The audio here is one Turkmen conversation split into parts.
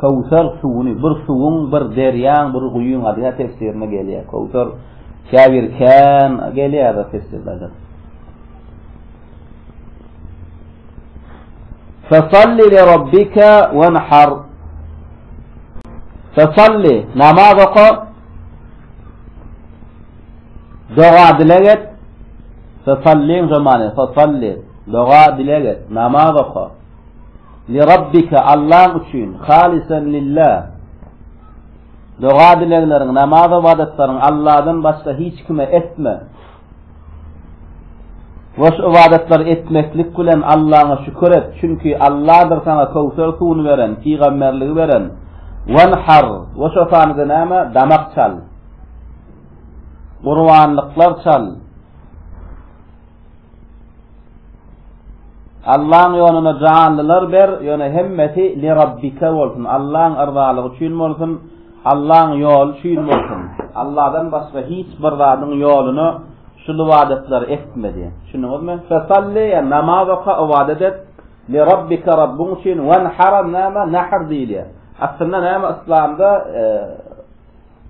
Köwser suwuny, bir suwuň, bir derýaň, bir guýyň ady ýa tefsirinde gelýär. Köwser käbir kän gelýär bir tefsirlerde. Fasalli li rabbika wanhar. Fasalli namaz oka. Doga-dileg et, fesalliň jomany, fesalli, doga-dileg et, namaz oka. Li Rabbike, Allaň üçin, halisen lille. Doga-dilegleriň, namaz-ybadatlaryň Alladan başga hiç kime etme. We şu ybadatlary etmeklik bilen Allaňa şükür et, çünki Alladyr saňa köwser suwuny beren, pygamberligi beren. Wanhar, we şo sanyda näme? Damak çal. Gurbanlyklar çal. Allaň ýoluna janlylar ber, ýöne hemmesi li rabbike bolsun, Allaň yrzalygy üçin bolsun, Allaň ýoly üçin bolsun. Allahdan başga hiç bir zadyň ýoluna şul ybadatlary etme diýen. Düşündiňizmi? Fesalli ya namaz oka ibadet et. Li rabbika rabbuň üçin wan haram nama nahr diýilýär. Aslynda näme islamda e,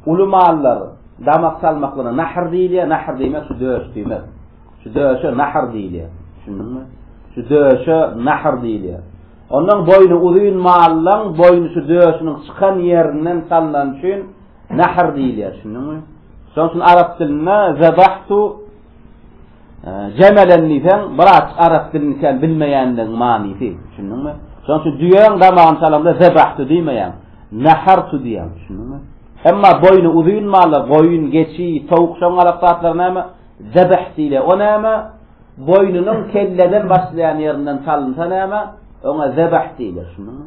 Uly mallar damak salmaklana nahr diýilýär, nahr diýmek şu döş diýmek. Şu döşe nahr diýilýär. Düşündiňmi? Şu döşe nahr diýilýär. Ondan boýny uzyn mallaň boýny şu döşüniň çykan ýerinden salnan üçin nahr diýilýär. Düşündiňmi? Şonuň üçin arap dilinde zabahtu Jemelen diýseň, biraz arap dilini sen bilmeýänligiň manysy, düşündiňmi? Şonuň üçin düýäň damagyny çalanda zebahtu diýmeýäň, nahartu diýýäň, düşündiňmi? Emma boýny uzyn mallar, goýun, geçi, towuk şoň alak zatlar näme? Zebah diýilýär. O näme? Boýnunyň kelleden başlaýan ýerinden çalynsa näme? Oňa zebah diýilýär, düşündiňmi?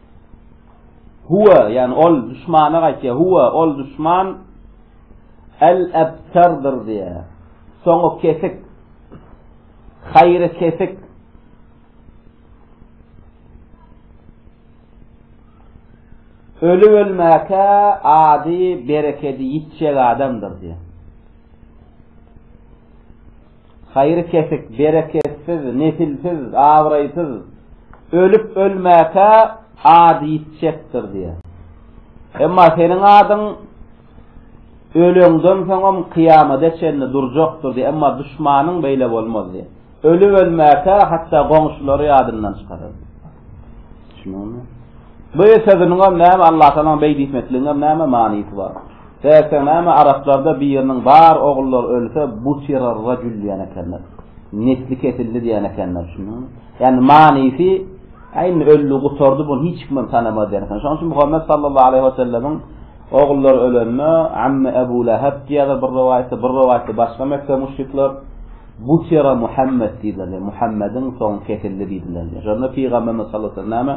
Huwa, ýani ol düşmana gaýtýar. Huwa, ol düşman el-ebtardyr diýýär. Soňy kesik. Haýry kesik. Öli ölmäkä ady berekedi ýitjek adamdyr diýýär. Haýry kesik, bereketsiz, nesilsiz, abraýsyz, ölüp-ölmäkä ady ýitjekdir diýýär. Emma seniň adyň öleňden soňam kyýamada çenli durjakdyr diýýär, emma duşmanyň beýle bolmaz diýýär. Ölüp-ölmäkä hatda goňşulary ýadyndan çykarar. Düşünüňizmi? Bu sözüniň hem näme Allatagalaň beýdi etmekligiň hem näme manysy bar? Däýse näme araplarda biriniň bar ogullary ölse butira rajul diýen ekenler. Nesli kesildi diýen ekenler. Düşünüňizmi? Ýani manysy Aýn öldi, gutardy, bunu hiç kim tanamaz diýen. Şonuň üçin Muhammet sallallahu aleyhi we sellemiň Ogullar ölende, Amme Ebu Leheb diýýärler bir rowaýatda, bir rowaýatda başga Mekge müşrikler, Butira Muhammet diýdiler, ýagny Muhammediň soňy kesildi diýdiler diýýär. Şonda Pygamberimiz sallallahu aleýhi we sellem näme,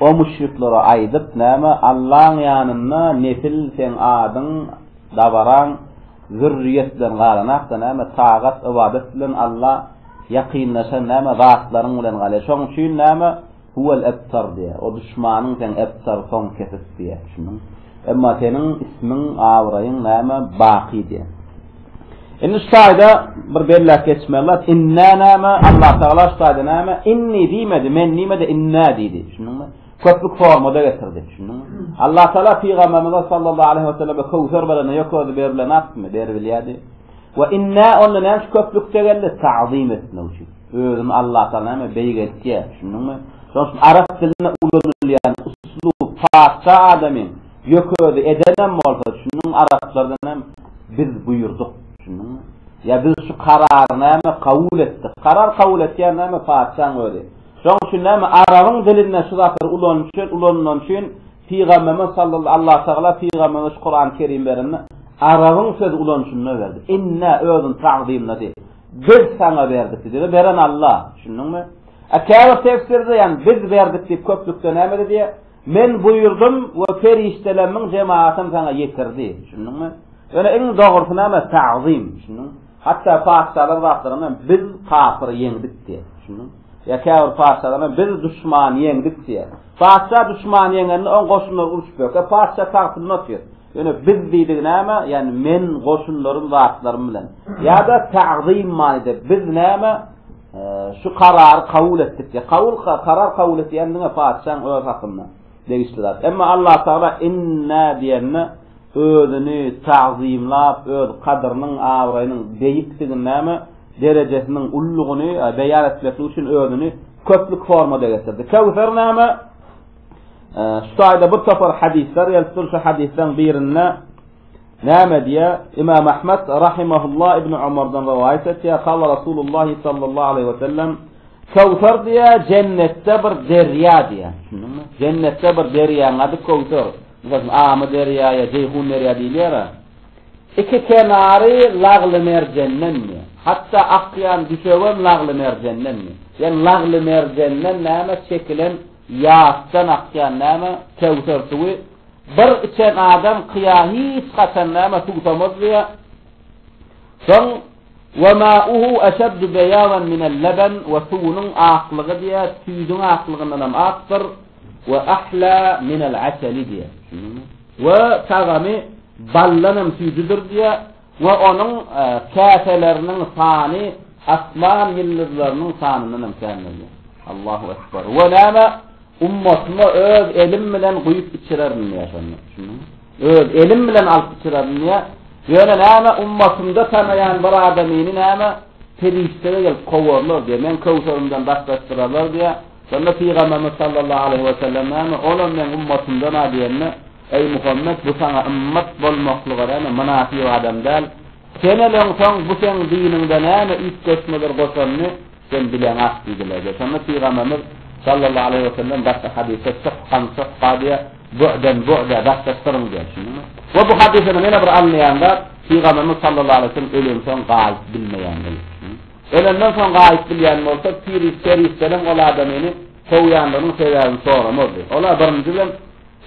O müşriklere aýdyp, näme, Allaň ýanynda nesil seň adyň, dabaraň, zürriýet bilen galanakda, näme, tagat, ybadat bilen Alla ýakynlaşan, näme, zatlaryň bilen galýar. Şonuň üçin, näme, Huwel ebtar diýýär. O duşmanyň seň ebtar, soň kesik diýýär. Düşündiňmi? Emma seniň ismiň, abraýyň näme? Baky diýýär. Indi şu taýda bir belläp geçmeli zat, inna näme? Allah Tagala şu taýda näme? Inni diýmedi, men diýmedi, inna diýdi. Düşündiňmi? köplük formada getirdi. Düşündiňmi? Allah Taala pygamberimize sallallahu aleyhi ve selleme kowser berende ýok özi berilen atmy? Beribilýärdi. Ve inna onda näme köplükde geldi? Ta'zim etmek üçin. Özüni Allatagala näme beýik etýär, düşündiňmi? Şonuň üçin arap dilinde ulanylýan uslup, patyşa adamyň ýökesi edenem bolsa, düşündiňmi, araplardan hem biz buýurdyk, düşündiňmi? Ýa biz şu karary näme kabul etdik? Karar kabul etýän näme patyşaň özi. Şonuň üçin näme arabyň dilinde şu zatlary ulanyşy ulanylany üçin Pygamberimiz sallal Allatagala pygamberimize şu Kurany Kerim berende arabyň söz ulanyşynda berdi. Inna özüni tagzymlady. Biz saňa berdik diýdi. Beren Alla. Düşündiňmi? A käbir tefsirde ýagny biz berdik diýip köplükde näme diýdi? Men buýurdym we perişdelermiň jemaatym saňa ýetirdi. Düşündiňmi? Ýöne iň dogrusy näme? Tagzym. Düşündiňmi? Hatda patyşalar zatlaryna biz kapyry ýeňdik diýer. Düşündiňmi? Ýa käbir patyşalaryna biz duşmany ýeňdik diýer. Patyşa duşmany ýeňende oň goşunlary urşup ýörkä patyşa tagtynda otyr. Ýöne biz diýdigi näme? Ýagny men goşunlarym zatlarym bilen. Ýa-da tagzym manyda biz näme? Şu karary kabul etdik diýer. Kabul karar kabul etýändiňe patyşaň öz hakynda. Degişli zat. Emma Allah Tagala Inna diýende özüni tagzymlap, öz kadyrynyň, abraýynyň beýikdigini näme, derejesiniň ululygyny beýan etmeklik üçin özüni köplük formada getirdi. Kewser näme? Şu taýda bir topar hadisler gelipdir. Şu hadisleriň birinde Näme diýýär? Imam Ahmet rahimehullah Ibn Omardan rowaýat etýär, Kala Rasulullah sallallahu aleyhi ve sellem Kowsar diýe jennetde bir derýa diýe. Jennetde bir derýanyň ady Kowsar. Meselem, Amy derýa ýa Jeýhun derýa diýilýär. Iki kenary lagly merjenden diýe. Hatda akýan düşewem lagly merjenden diýe. Ýani lagly merjenden näme çekilen ýasdan akýan näme Kowsar suwy Bir içen adam kyýa hiç haçan näme suwsamaz diýýär. Soň Wa ma'uhu eşeddu beýadan minel leben we suwunyň aklygy diýýär, süýdüň aklygyndan hem akdyr we ahla minel asali diýýär. Düşündiňmi? We tagamy baldan hem süýjüdir diýýär. We onuň käseleriniň sany asman ýyldyzlarynyň sanyndan hem kän bolýar. Allahu ekber. We näme? Ummatyma öz elim bilen guýup içirerin diýýär şonda. Düşündiňmi? Öz elim bilen alyp içirerin diýýär. Ýöne näme? Ummatymda tanaýan bir adamyny näme? Perişdeler gelip kowarlar diýýär. Men köwserimden daşlaşdyrarlar diýýär. Şonda Pygamberimiz sallallahu aleýhi we sellem näme? Onam meň ummatymdan-a diýende, Eý Muhammet, bu saňa ymmat bolmaklyga näme mynasyp adam däl. Sen öleňsoň, bu seň diniňde näme üýtgeşmeler goşanyny sen bileňak diýdiler diýýär. Şonda Pygamberimiz, sallallahu aleýhi we sellem, başga hadysda şykgan şykga diýýär, bu'den bu'da, daşlaşdyryň diýýär, düşündiňmi? We bu hadysdan ýene bir alynýan zat, Pygamberimiz, sallallahu aleýhi we sellem, öleňsoň gaýyp bilmeýän diýip, düşündiňmi? Ölenden soň gaýyp bilýän bolsa, peri-perişdeler ol adamyny kowýandygynyň sebäbini soramazdy. Olar birinji bilen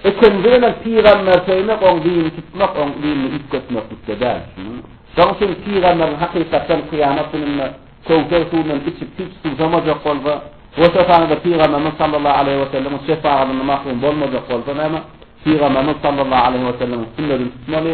Ikinji bilen pygamber söýmek oň dini tutmak oň dinini üýtgetmeklikde däl düşündiňmi? Şoň üçin pygamberiň hakykatdan kyýamat gününde Köwser suwundan içip hiç suwsamajak bolsa, goşa sanyda pygamberimiz sallallahu aleýhi wesellemiň şefagatyndan mahrum bolmajak bolsa näme? Pygamberimiz sallallahu aleýhi wesellemiň sünnedini tutmaly.